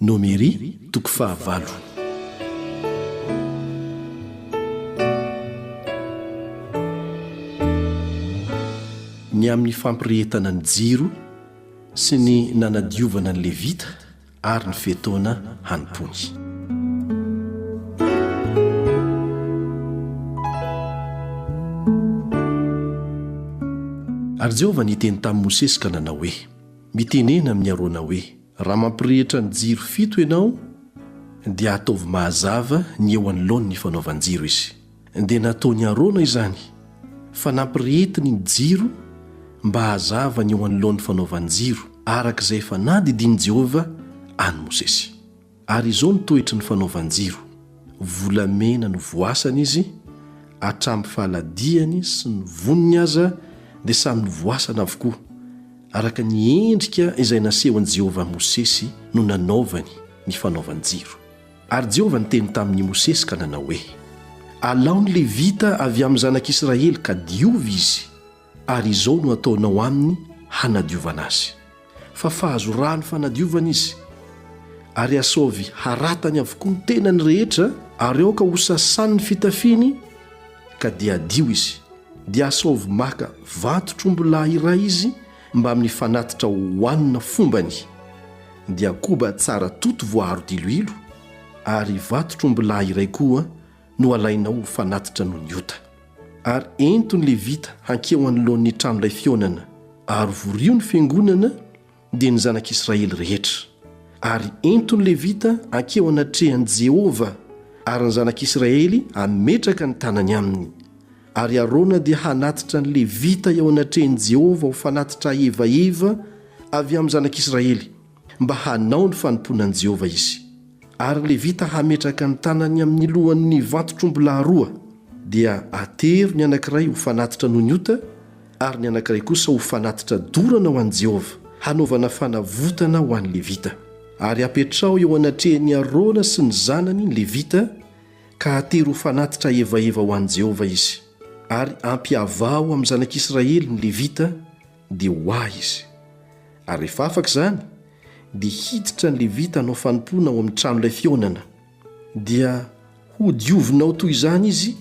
Nomery, toko fahavalo. Ny amin'ny fampirehetana ny jiro sy ny nanadiovana ny Levita ary ny fe-taona hanompoany. Ary Jehovah niteny tamin'i Mosesy ka nanao hoe, Mitenena amin'i Arona hoe, Raha mampirehitra ny jiro fito ianao dia ataovy mahazava ny eo anoloany ny fanaovan-jiro izy. Dia nataon'i Arona izany fa nampirehetiny ny jiro mba hahazava ny eo anoloan'ny fanaovan-jiro araka izay efa nadidian'i Jehovah an'i Mosesy. Ary izao ny toetry ny fanaovan-jiro, Volamena no voasana izy, hatramin'ny fahaladiany sy ny voniny aza dia samy novoasana avokoa, Araka ny endrika izay nasehon'i Jehovah Mosesy no nanaovany ny fanaovan-jiro. Ary Jehovah niteny tamin'i Mosesy ka nanao hoe, Alao ny Levita avy amin'ny zanak'Israely ka diovy izy, ary izao no ataonao aminy hanadiovana azy. Fafazo rano fanadiovana izy, ary asaovy haratany avokoa ny tenany rehetra, ary aoka hosasan'ny fitafiany, ka dia hadio izy, dia asaovy maka vantotr'ombilahy iray izy mbamin'ny fanatitra hohanina fombany, dia koba tsara toto voaaro diloilo, ary vantotr'ombilahy iray koa no alainao ho fanatitra noho ny ota. Ary ento ny Levita hankeo anoloan'ny tranolay fihaonana, ary vorio ny fiangonana, dia ny zanak'Israely rehetra. Ary ento ny Levita hankeo anatrehan'i Jehovah, ary ny zanak'Israely hametraka ny tanany aminy. Ary Arona dia hanatitra ny Levita eo anatrehan'i Jehovah ho fanatitra aevaheva avy amin'ny zanak'Israely, mba hanao ny fanompoana an'i Jehovah izy. Ary ny Levita hametraka ny tanany amin'ny lohan'ny vantotr'ombilahy roa, dia atero ny anankiray ho fanatitra noho ny ota, ary ny anankiray kosa ho fanatitra dorana ho an'i Jehovah, hanaovana fanavotana ho an'ny Levita. Ary apetraho eo anatrehan'i Arona sy ny zanany ny Levita, ka atery ho fanatitra hevaheva ho an'i Jehovah izy. Ary ampiavaho amin'ny zanak'Israely ny Levita, dia ho ahy izy. Ary rehefa afaka izany, dia hiditra ny Levita hanao fanompoana ao amin'ny tranolay fihaonana. dia hodiovinao toy izany izy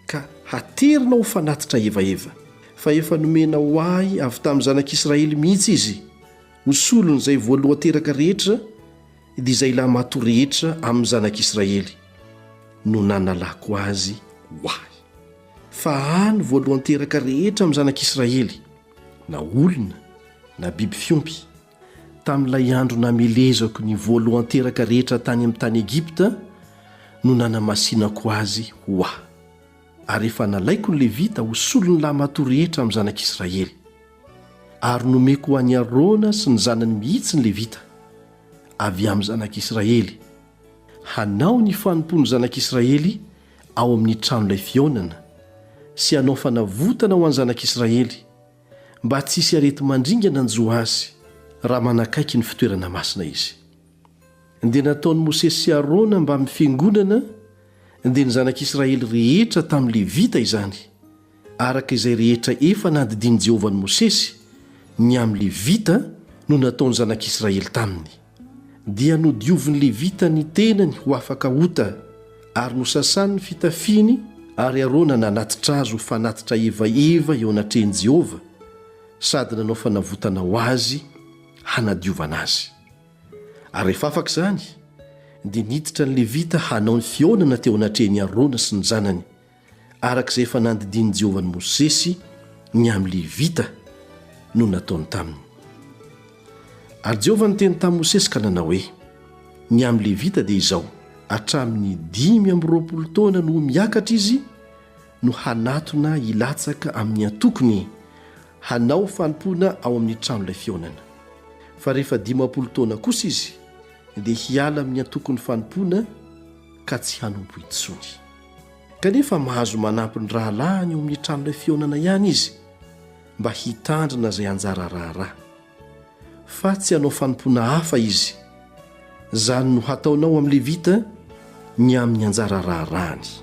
ka haterinao ho fanatitra hevaheva, fa efa nomena ho ahy avy tamin'ny zanak'Israely mihitsy izy ho solon'izay voalohan-teraka rehetra, dia izay lahimatoa rehetra amin'ny zanak'Israely no nanalako azy ho ahy. Fa ahy ny voalohan-teraka rehetra amin'ny zanak'Israely, na olona na biby fiompy. Tamin'ilay andro namelezako ny voalohan-teraka rehetra tany amin'ny tany Egypta no nanamasinako azy ho Ahy. Ary efa nalaiko ny Levita ho solon'ny lahimatoa rehetra amin'ny zanak'Israely. Ary nomeko ho an'i Arona sy ny zanany mihitsy ny Levita, avy amin'ny zanak'Israely, hanao ny fanompoan'ny zanak'Israely ao amin'ny tranolay fihaonana, sy hanao fanavotana ho an'ny zanak'Israely, mba tsy hisy areti-mandringana hanjo azy raha manakaiky ny fitoerana masina izy. Dia nataon'i Mosesy sy Arona mbamin'ny fiangonana dia ny zanak'Israely rehetra tamin'ny Levita izany, araka izay rehetra efa nadidian'i Jehovah an'i Mosesy, ny amin'ny Levita no nataon'ny zanak'Israely taminy. dia nodiovin'ny Levita ny tenany ho afaka ota, ary nosasany ny fitafiany, ary Arona nanatitra azy ho fanatitra ivaiva eo anatrehan'i Jehovah, sady nanao fanavotana ho azy hanadiovana azy. Ary rehefa afaka izany, dia niditra ny Levita hanao ny fihaonana teo anatrehan'i Arona sy ny zanany, araka izay efa nandidian'i Jehovah an'i Mosesy ny amin'ny Levita no nataony taminy. Ary Jehovah niteny tamin'i Mosesy ka nanao hoe, Ny amin'ny Levita dia izao, hatramin'ny dimy amby roapolo taona no ho miakatra izy no hanatona hilatsaka amin'ny antokony hanao fanompoana ao amin'ny tranolay fihaonana, fa rehefa dimampolo taona kosa izy dia hiala amin'ny antokon'ny fanompoana ka tsy hanompo intsony. kanefa mahazo manampy ny rahalahiny eo amin'ny tranolay fihaonana ihany izy mba hitandrina izay anjara raharaha fa tsy hanao fanompoana hafa izy izany no hataonao amin'ny levita ny amin'ny anjara raharahany